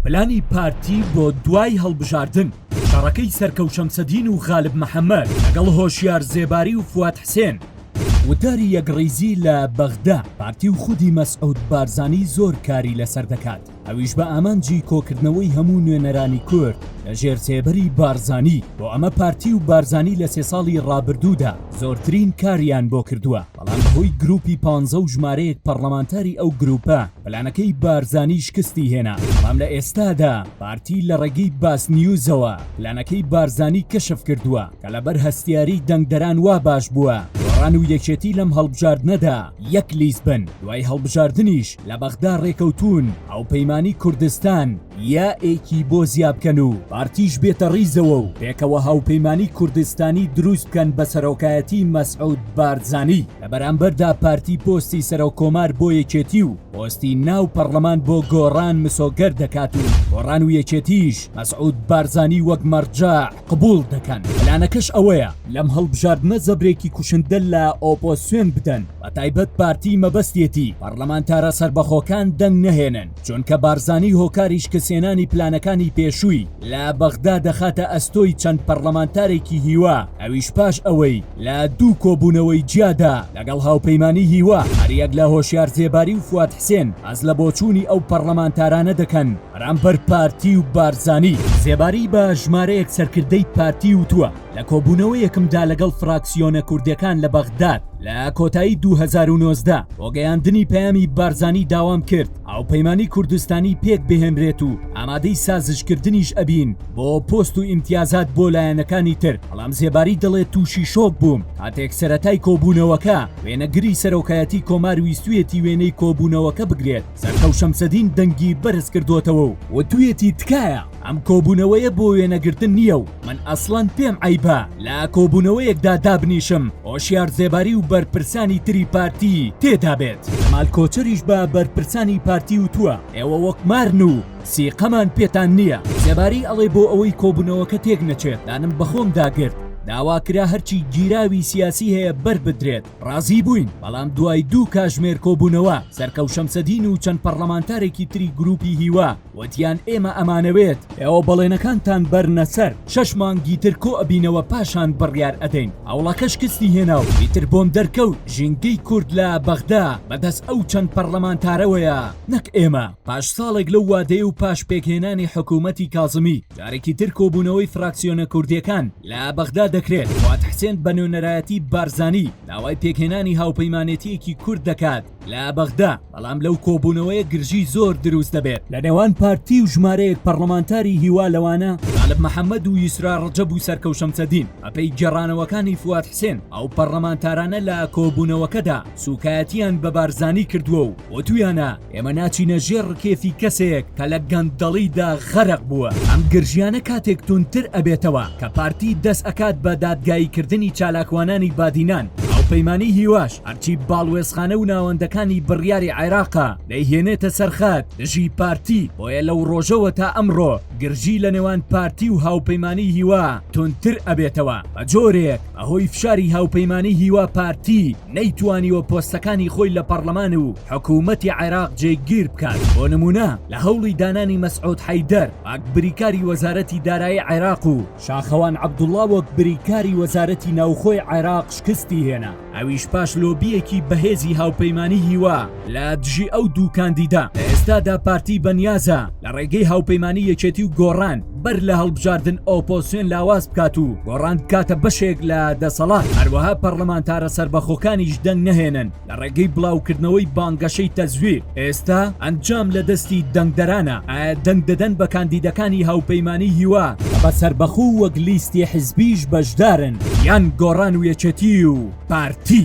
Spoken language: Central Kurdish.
پلانی پارتی بۆ دوای هەڵبژاردن، شەڕەکەی سەر کەوشەمسەدین و غالب محەمەد لەگەڵ هۆشیار زێباری و فواد حسێن، وتاری یەکڕیزی لە بەغدا، پارتی و خودی مەسعود بارزانی زۆر کاری لەسەر دەکات، ئەویش بە ئامانجی کۆکردنەوەی هەموو نوێنەرانی کورد لە ژێر سێبەری بارزانی، بۆ ئەمە پارتی و بارزانی لە سێ ساڵی ڕابردوودا زۆرترین کاریان بۆ کردووە. بەڵام کۆی گروپی پانزە و ژمارەیەک پەڕڵەمانتاری ئەو گروپە پلانەکەی بارزانی شکستی هێنا، بەڵام لە ئێستادا پارتی لە ڕێگەی باسنیوزەوە پلانەکەی بارزانی کەشف کردووە کە لەبەر هەستیاری دەنگدەران وا باش بووە گۆڕان و یەکێتی لەم هەڵبژاردنەدا یەک لیست بن، دوای هەڵبژاردنیش لە بەغدا ڕێکەوتوون هاوپەیمانی کوردستان یاێکی بۆ زیابکەن و پارتیش بێتە ڕیزەوە و پێکەوە هاوپەیمانی کوردستانی دروست بکەن بە سەرۆکایەتی مەسعود بارزانی لە بەرامبەردا پارتی پۆستی سەرۆک کۆمار بۆ یەکێتی و پۆستی ناو پەڕلەمان بۆ گۆڕان مسۆگەر دەکات و گۆڕان و یەکێتیش مەسعود بارزانی وەک مەڕجەع قبوڵ دەکەن، پلانەکەش ئەوەیە لەم هەڵبژاردنە زەبرێکی کوشندە لە ئۆپۆسیۆن بدەن بەتایبەت پارتی مەبەستیەتی پەڕلەمانتارە سەربەخۆکان دەنگ نەهێنن چونکە بارزانی هۆکاری شکستهێنانی پلانەکانی پێشووی لە بەغدا دەخاتە ئەستۆی چەند پەڕلەمانتارێکی هیوا ئەویش پاش ئەوەی لە دوو کۆبوونەوەی جیادا لەگەڵ هاوپەیمانی هیوا هەریەک لە هۆشیار زێباری و فواد حسێن باس لە بۆچوونی ئەو پەڕلەمانتارانە دەکەن بەرامبەر پارتی و بارزانی. زێباری بە ژمارەیەک سەرکردەی پارتی وتووە، لە کۆبوونەوەیەکمدا لەگەڵ فراکسیۆنە کوردەکان لە بەغداد لە کۆتایی دوو هەزار و نۆزدە بۆ گەیاندنی پەیامی بارزانی داوام کرد هاوپەیمانی کوردستانی پێک بهێنرێت و ئامادەی سازشکردنیش ئەبین بۆ پۆست و ئیمتیازات بۆ لایەنەکانی تر، بەڵام زێباری دەڵێت تووشی شۆک بووم کاتێک سەرەتای کۆبوونەوەکە وێنەگری سەرۆکایەتی کۆمار ویستویەتی وێنەی کۆبوونەوەکە بگرێت. سەرکەو شەمسەدین دەنگی بەرز کردۆتەوە و وتویەتی تکایە ئەم کۆبونەوەیە بۆ وێنەگرتن نیە و من ئەسڵەن پێم عەیبە لە کۆبونەوەیەکدا دابنیشم هۆشیار زێباری و بەرپرسانی تری پارتی تێدابێت کەمال کۆچەریش بە بەرپرسانی پارتی وتوە ئێوە وەک مارن و سیقەمان پێتان نیە زێباری ئەڵێ بۆ ئەوەی کۆبونەوەکە تێک نەچێت دانم بەخۆم داگرت داواکرا هەرچی گیراوی سیاسی هەیە بەربدرێت ڕازی بووین، بەڵام دوای دوو کاژمێر کۆبوونەوە، سەرکەو شەمسەدین و چەند پەڕڵەمانتارێکی تری گرووپی هیوا، وتیان ئێمە ئەمانەوێت، ئێوە بەڵێنەکانتان بەرنە سەر، شەش مانگی تر کۆ ئەبینەوە پاشان بڕیار ئەدەین، هەوڵەکە شکستی هێنا و ئیتر بۆم دەرکەوت ژینگەی کورد لە بەغدا بەدەست ئەو چەند پەڕڵەمانتارەوەیە نەک ئێمە. پاش ساڵێک لەو وادەیە و پاش پێکهێنانی حکوومەتی کازمی، جارێکی تر کۆبوونەوەی فراکسیۆنە کوردییەکان، لە بەغدا دەکرێت، فواد حسێن بە نوێنەرایەتی بارزانی داوای پێکهێنانی هاوپەیمانێتییەکی کورد دەکات لە بەغدا، بەڵام لەو کۆبوونەوەیە گرژی زۆر دروست دەبێت لە نێوان پارتی و ژمارەیەک پەڕڵەمانتاری هیوا لەوانە غالب محەمەد و یسرا ڕەجەب و سەرکەو شەمسەدین. بەپێی گێڕانەوەکانی فواد حسێن، ئەو پەڕڵەمانتارانە لە کۆبوونەوەکەدا، سوکایەتیان بە بارزانی کردووە و وتویانە ئێمە ناچینە ژێر ڕکێفی کەسێک کە لە گەندەڵیدا غەرق بووە ئەم گرژیانە کاتێک تونتر ئەبێتەوە کە پارتی دەست ئەکات بە دادگاییکردنی چالاکوانانی بادینان هاوپەیمانی هیواش هەرچی باڵوێزخانە و ناوەندەکانی بڕیاری عێراقە دەیهێنێتە سەرخەت دژی پارتی بۆیە لەو ڕۆژەوە تا ئەمڕۆ گرژی لە نێوان پارتی و هاوپەیمانی هیوا تونتر ئەبێتەوە بە جۆرێک بەهۆی فشاری هاوپەیمانیی هیوا پارتی نەیتوانیوە پۆستەکانی خۆی لە پەڕلەمان و حکوومەتی عێراق جێگیر بکات، بۆ نموونە لە هەوڵی دانانی مەسعود حەیدەر وەک بریکاری وەزارەتی دارایی عێراق و شاخەوان عەبدوڵا وەک بریکاری وەزارەتی ناوخۆی عێراق شکستی هێنا، ئەویش پاش لۆبییەکی بەهێزی هاوپەیمانیی هیوا. لە دژی ئەو دوو کاندیدە لە ئێستادا پارتی بەنیازە لە ڕێگەی هاوپەیمانی یەکێتی و گۆڕان بەر لە هەڵبژاردن ئۆپۆسیۆن لاواز بکات و گۆڕان بکاتە بەشێک لە دەسەڵات هەروەها پەرلەمانتارە سەربەخۆکانیش دەنگ نەهێنن لە ڕێگەی بڵاوکردنەوەی بانگەشەی تەزویر ئێستا ئەنجام لە دەستی دەنگدەرانە ئایا دەنگ دەدەن بە کاندیدەکانی هاوپەیمانی هیوا بە سەربەخۆ وەک لیستی حزبیش بەشدارن یان گۆڕان و یەکێتی و پارتی؟